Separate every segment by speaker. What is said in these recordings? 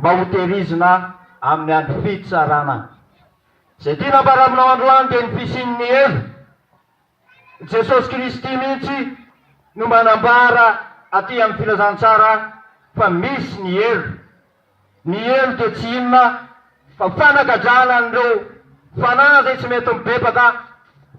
Speaker 1: mba ho tehirizina amin'ny andro fitsarana. Izay tiana hamparamina ao androany dia ny fisian'ny helo. I Jesosy Kristy mihitsy no manambara aty amin'ny Filazantsara fa misy ny helo. Ny helo dia tsy inona fa fanagadrana an'ireo fanahy izay tsy mety mibebaka,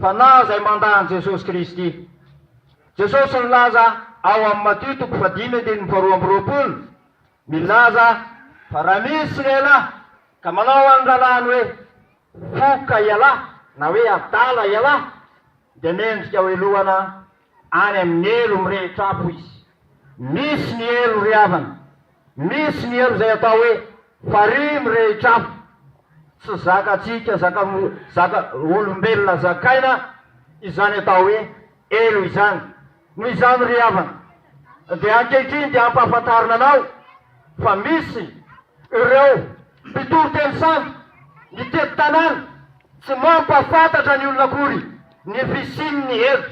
Speaker 1: fanahy izay mandà an'i Jesosy Kristy. Jesosy nilaza ao amin'ny Matio toko fahadimy andininy faharoa amby roapolo, Milaza fa raha misy lehilahy ka manao an'ny rahalahiny hoe foka ialahy na hoe adala ialahy dia mendrika ho helohana any amin'ny helo mirehitra afo izy. Misy ny helo ry havana, misy ny helo izay atao hoe farihy mirehitra afo. Tsy zakatsika, zaka, zaka, olombelona zakaina izany atao hoe helo izany. Noho izany ry havana dia ankehitriny dia ampahafantarina anao fa misy ireo mpitory teny sambo mitety tanàna tsy mampahafantatra ny olona akory ny fisian'ny hery,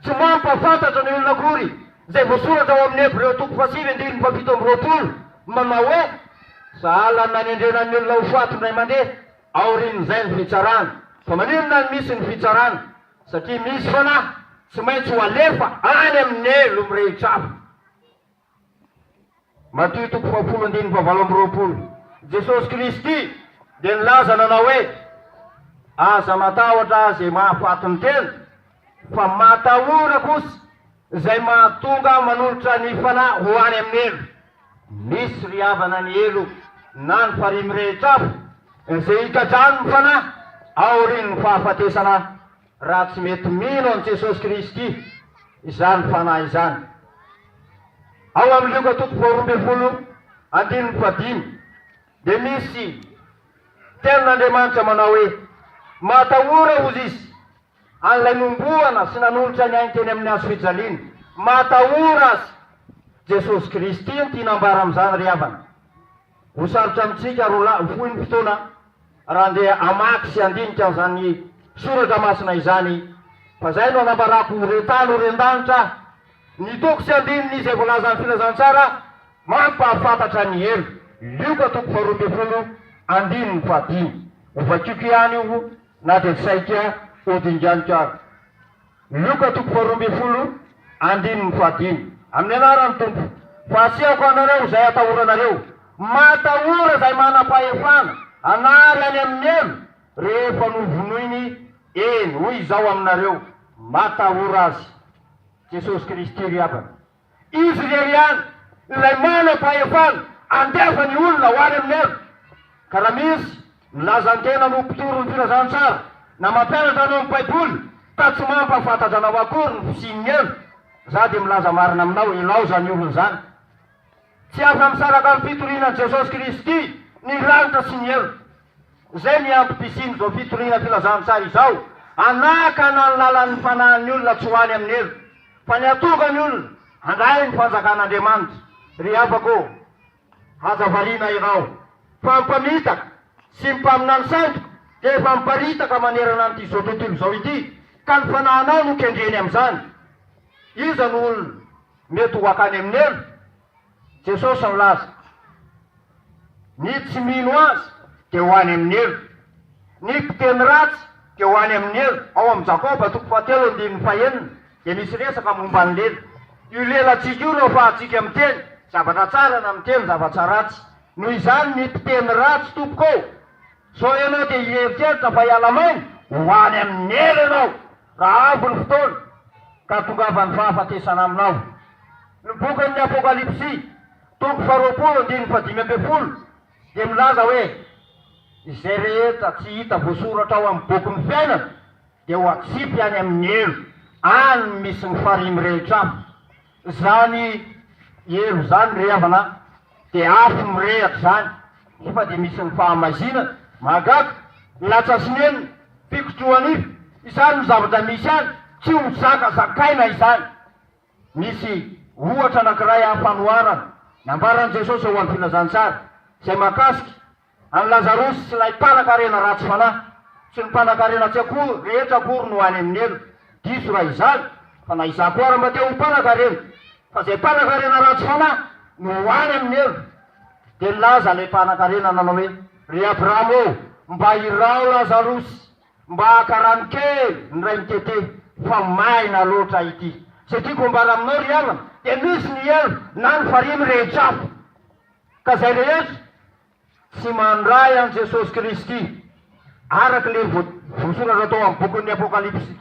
Speaker 1: tsy mampahafantatra ny olona akory izay voasoratra ao amin'ny Hebreo toko fahasivy andininy fahafito amby roapolo manao hoe, Sahala ny nanendrena ny olona ho faty indray mandeha, aorian'izay ny fitsarana. Fa maninona no misy ny fitsarana? Satria misy foana tsy maintsy ho alefa any amin'ny lo mirehitra hafa. Matio toko fahafolo andininy fahavalo amby roapolo. Jesosy Kristy dia nilaza nanao hoe, Aza matahotra izay mahafaty ny tena, fa matahora kosa Izay mahatonga aho manolotra ny fanahy ho any amin'ny helo. Misy ry havana ny helo na ny farihy mirehitra afo izay hikadrahan'ny fanahy aorian'ny fahafatesana raha tsy mety mino an'i Jesosy Kristy izany fanahy izany. Ao amin'ny Lioka toko faharoa ambin'ny folo andininy fahadimy dia misy tenin'Andriamanitra manao hoe, Matahora, hozy izy, an'ilay nombohana sy nanolotra ny ainy teny amin'ny hazofijaliana. Matahora Azy. Jesosy Kristy no tiana ambara amin'izany ry havana. Ho sarotra amintsika ary ho fohy ny fotoana raha handeha hamaky sy handinika an'izany soratra masina izany fa izay no anambarako ho ren-tany ho ren-danitra aho. Ny toko sy andininy izay voalazan'ny Filazantsara mampahafantatra ny helo. Lioka toko faharoa ambin'ny folo andininy fahadimy. Ho vakiako ihany io. Na dia saika hodinganiko ary. Luka toko faharoa ambin'ny folo andininy fahadimy. Amin'ny anaran'ny Tompo, fa asehoko anareo izay atahoranareo. Matahora izay manam-pahefana hanary any amin'ny helo rehefa novonoiny, eny, hoy Izaho aminareo, matahora azy. Jesosy Kristy ry havana. Izy irery ihany ilay manam-pahefana andefa ny olona ho any amin'ny ady. Ka raha misy milaza ny tenany ho mpitory ny filazantsara na mampianatra anao ny Baiboly ka tsy mampahafantatra anao akory ny fisian'ny helo, izaho dia milaza marina aminao, ilao izany olona izany. Tsy afa-misaraka amin'ny fitoriana an'i Jesosy Kristy ny lanitra sy ny helo. Izay ny antony fisian'izao fitoriana filazantsara izao, hanakana ny lalan'ny fanahin'ny olona tsy ho any amin'ny helo, fa ny hahatonga ny olona handray ny fanjakan'Andriamanitra. Ry havako ô, aza variana ianao, fa ny mpamitaka sy ny mpaminany sandoka dia efa miparitaka manerana an'ity izao tontolo izao ity, ka ny fanahinao no kendreny amin'izany. Iza no olona mety ho hakany amin'ny helo? Jesosy nilaza, Ny tsy mino Azy dia ho any amin'ny helo. Ny mpiteny ratsy dia ho any amin'ny helo. Ao amin'ny Jakoba toko fahatelo andininy fahenina dia misy resaka momba ny lela. Io lelantsika io no afahantsika miteny zavatra tsara na miteny zavatra ratsy. Noho izany ny mpiteny ratsy tompoko ô! sao ianao dia hieritreritra fa hiala-maina, ho any amin'ny helo ianao. Raha avy ny fotoana ka tongavan'ny fahafatesana aminao. Ny bokin'ny Apokalypsy, toko faharoapolo andininy fahadimy ambin'ny folo, dia milaza hoe, Izay rehetra tsy hita voasoratra ao amin'ny bokin'ny fiainana dia ho atsipy any amin'ny helo, any misy ny farihy mirehitra afo. Zany helo izany ry havana de afo mirehatra zany nefa de misy ny fahamaizinana, mahagaga, latsa sy nenina, fikotrohanify, izany no zavatra misy any, tsy ho zaka zakaina izany. Misy ohatra anakiray aho fanoharana nambaran'i Jesosy ao amin'ny filazantsara izay mahakasika. An'i Lazarosy sy ilay mpanakarena ratsy fanahy, sy ny mpanakarena tsy akory rehetra akory no any amin'ny helo. Diso raha izany, fa na izaho koa ary mba te ho mpanakarena, fa izay mpanakarena ratsy fanahy no ho any amin'ny helo. Dia nilaza ilay mpanakarena nanao hoe, Ry Abrahama ô, mba iraho Lazarosy mba haka rano kely ny ray mitete, fa maina loatra ity. Izay tiako ambara aminao ry havana, dia misy ny helo na ny farihy mirehitra afo. Ka izay rehetra tsy mandray an'i Jesosy Kristy araka ilay voasoratra tao amin'ny bokin'ny Apokalypsy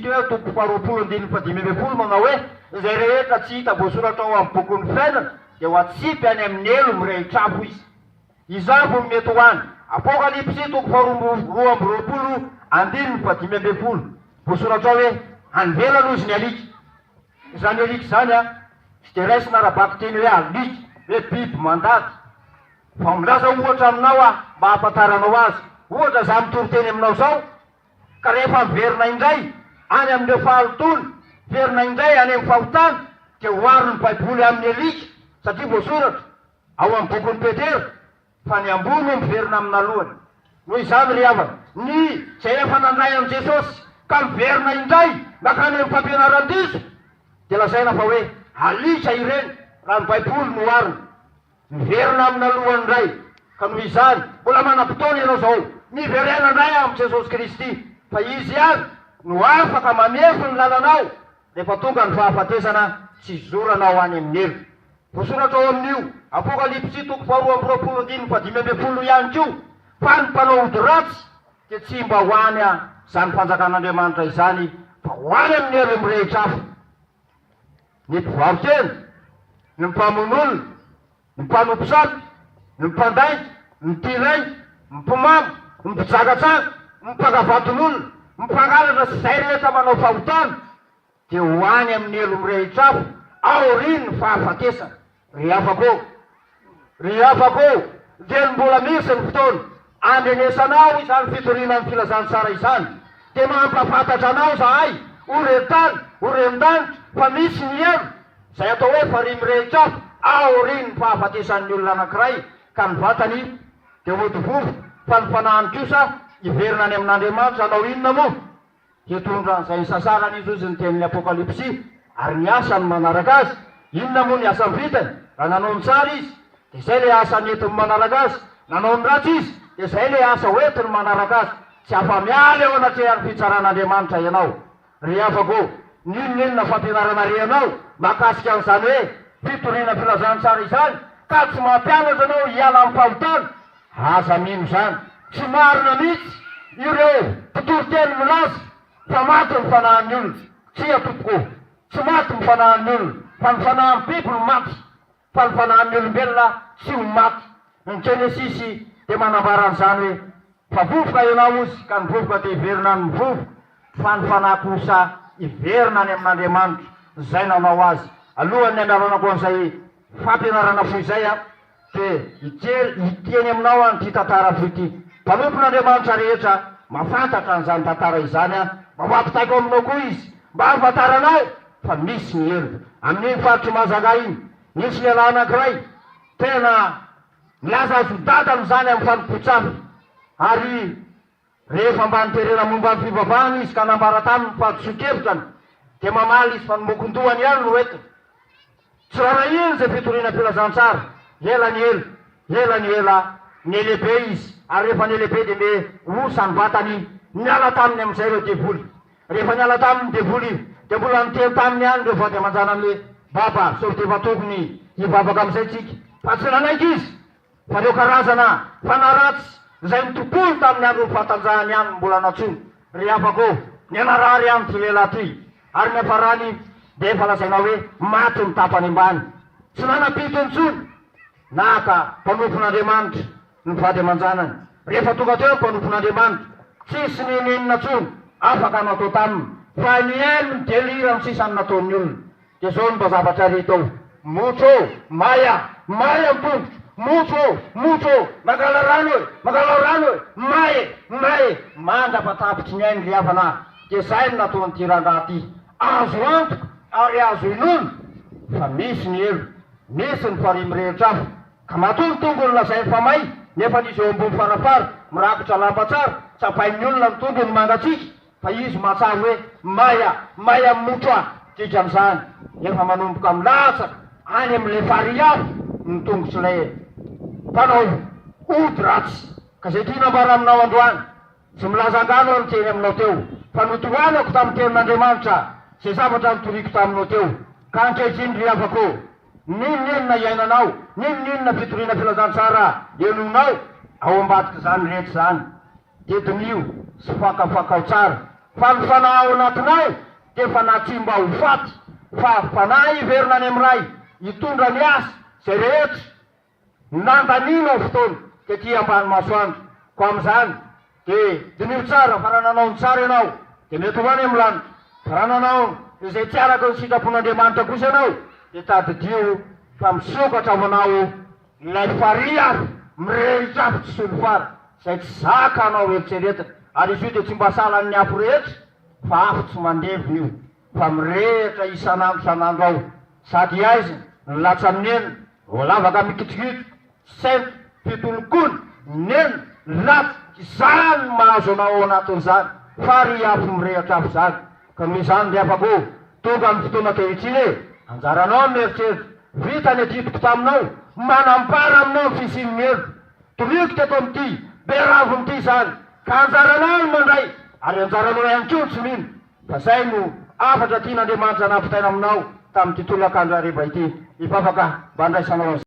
Speaker 1: teo eo, toko faharoapolo andininy fahadimy ambin'ny folo, manao hoe, Izay rehetra tsy hita voasoratra ao amin'ny bokin'ny fiainana dia ho atsipy any amin'ny helo mirehitra afo izy. Izany vao mety ho any. Apokalypsy toko faharoa amby roapolo andininy fahadimy ambin'ny folo, voasoratra ao hoe, Any ivelany hoy izy ny alika. Izany alika izany an, tsy dia raisina ara-bakiteny hoe alika, hoe biby mandady. Fa milaza ohatra aminao aho mba hahafantaranao azy. Ohatra izaho mitory teny aminao izao, ka rehefa miverina indray any amin'ireo fahalotoana, miverina indray any amin'ny fahotana, dia oharin'ny Baiboly amin'ny alika, satria voasoratra ao amin'ny bokin'i Petera, Fa ny ambony no miverina amin'alohany. Noho izany, ry havana, ny izay efa nandray an'i Jesosy ka miverina indray mankany amin'ny fampianaran-diso, dia lazaina fa hoe alika ireny, raha ny Baiboly no oharina. Miverina amin'alohany indray. Ka noho izany, mbola manam-potoana ianao izao. Miverena indray amin'i Jesosy Kristy, fa Izy ihany no afaka manefy ny lalanao. Rehefa tonga ny fahafatesana, tsy zorana ho any amin'ny helo. Voasoratra ao amin'io Apokalypsy toko faharoa amby roapolo andininy fahadimy ambin'ny folo ihany koa fa ny mpanao ody ratsy dia tsy mba ho any amin'izany Fanjakan'Andriamanitra izany fa ho any amin'ny helo mirehitra hafa. Ny mpivaro-tena, ny mpamono olona, Ny mpanompo sampy, ny mpandainga, ny tia rainga, ny mpimamo, ny mpijangajanga, ny mpangavanton'olona, ny mpangalatra sy izay rehetra manao fahotana dia ho any amin'ny helo mirehitra afo aorian'ny fahafatesana. Ry havako ô! Ry havako ô! Dia mbola misy ny fotoana Andrenesanao izany fitoriana ny filazantsara izany dia mampahafantatra anao izahay, O ren tany, O ren danitra, fa misy ny helo, izay atao hoe farihy mirehitra afo, aorian'ny fahafatesan'ny olona anankiray ka ny vatany dia hody vovo, fa ny fanahiny kosa hiverina any amin'Andriamanitra, hanao inona moa? Hitondra an'izay isasarany izy, hoy izy, ny tenin'ny Apokalypsy, ary ny asany manaraka azy. Inona moa ny asany vitany? Raha nanao ny tsara izy, dia izay ilay asa nentiny manaraka azy. Nanao ny ratsy izy, dia izay ilay asa hoentiny manaraka azy. Tsy afa-miala eo anatrehan'ny fitsaran'Andriamanitra ianao. Ry havako ô, n'inon'inona fampianarana rehanao mahakasika an'izany hoe fitoriana filazantsara izany, ka tsy mampianatra anao hiala amin'ny fahotana, Aza mino izany. Tsy marina mihitsy ireo mpitoriteny milaza fa maty ny fanahin'ny olona. Tsia tompoko o! Tsy maty ny fanahin'ny olona fa ny fanahin'ny biby no maty fa ny fanahin'ny olombelona tsy ho maty. Ny Jenesisy dia manambara an'izany hoe, Fa vovoka ianao ozy ka ny vovoka dia hiverina amin'ny vovoka fa ny fanahy kosa hiverina any amin'Andriamanitra izay nanao azy. Alohan'ny handalanako an'izay fampianarana fohy izay an! dia hijery, hihiteny aminao aho an'ity tantara fohy ity. Mpanompon'Andriamanitra rehetra mahafantatra an'izany tantara izany aho, mba ho ampitaiko aminao koa izy, mba hahafantaranao fa misy ny helo. Amin'iny faritr'i Mahajanga iny, nisy lehilahy anankiray tena nilaza azon-dadany izany amin'ny fanompoan-tsampy, ary. Rehefa mba niterena momba ny fivavahana izy ka nambara taminy fa diso-kevitrany, dia mamaly izy fa ny mokon-dohany ihany no entiny. Tsy rarahiany izay fitoriana filazantsara. Ela ny ela, ela ny ela, niha-lehibe izy, ary rehefa niha-lehibe dia me osa ny vatany. Niala taminy amin'izay ireo devoly. Rehefa niala taminy ny devoly, dia mbola niteny taminy ihany ireo vady aman-janany hoe, Baba, sao dia efa tokony hivavaka amin'izay tsika? Fa tsy nanaiky izy. Fa ireo karazana fanahy ratsy izay nitontolo tamin'ny andron'ny fahatanjahany ihany no mbola nantsoina ry havako ô! Nianarary ihany ity lehilahy ity ary ny hafarany dia efa lazaina hoe maty ny tapany ambany. Tsy nanampito intsony naka mpanompn'Andriamanitra ny vady aman-janany. Rehefa tonga teo ny mpanompn'Andriamanitra, tsisy n'inon'inona intsony afaka natao taminy fa nihaino ny deliran'ny sisa ny nataon'ny olona. Dia izao no mba zavatra re tao, Motro ô! May a! May a ny tongotro! Motro ô! Motro ô! Mangala rano e! Mangalao rano e! May e! May e! Mandra-patapitry ny ainy ry havana a! Dia izay no nataon'ity rangahy ity. Azo antoka ary azo inoana fa misy ny helo, misy ny farihy mirehitra afo. Ka matoa ny tongony lazainy fa may, nefa an'izy eo ambony farafara, mirakitra lamba tsara, tsapain'ny olona ny tongony mangatsiaka. Fa izy mahatsara hoe Maya, Maya Mucha, didy amin'izany, efa manomboka milatsaka any amin'ilay farihy avy ny tongotr'ilay mpanao ody ratsy. Ka izay tiana ambara aminao androany, tsy milaza angano aho niteny aminao teo, fa notohanako tamin'ny tenin'Andriamanitra izay zavatra nitoriako taminao teo. Ka ankehitriny ry havako, n'inon'inona iainanao, n'inon'inona fitoriana filazantsara henoinao ao ambadik'izany rehetra izany, Dia diniho sy fakafakao tsara fa ny fanahy ao anatinao dia efa natsimba ho faty fa fanahy hiverina any amin'ny Ray hitondra ny asa izay rehetra nandanianao fotoana tety ambany masoandro. Koa amin'izany dia diniho tsara fa raha nanao ny tsara ianao dia mety ho any amin'ny lanitra fa raha nanao izay tsy araka ny sitrapon'Andriamanitra kosa ianao dia tadidio fa misokatra ho anao Ilay farihy ary mirehitra afo tsy solifara izay tsy zaka anao eritreretina ary izy io dia tsy mba sahalan'ny afo rehetra fa afo tsy mandevona io fa mirehitra isan'andro isan'andro ao sady aizina ny latsa neny voalavaka mikitrokitroka sento fitolokona neny latsa izany no mahazo anao ao anatin'izany farihy afo mirehitra afo izany Ka noho izany ry havako, tonga ny fotoana ankehitriny e! Anjaranao ny mieritreritra, vita ny adidiko taminao, manambara aminao ny fisian'ny heloka toroiko teto amin'ity be raviny ity izany, ka anjaranao ny mandray ary anjaranao ihany koa ny tsy mino, fa izay no hafatra tian'Andriamanitra nampitaina aminao tamin'ity tolakandro hariva ity, hivavaka mba handraisanao an'izany.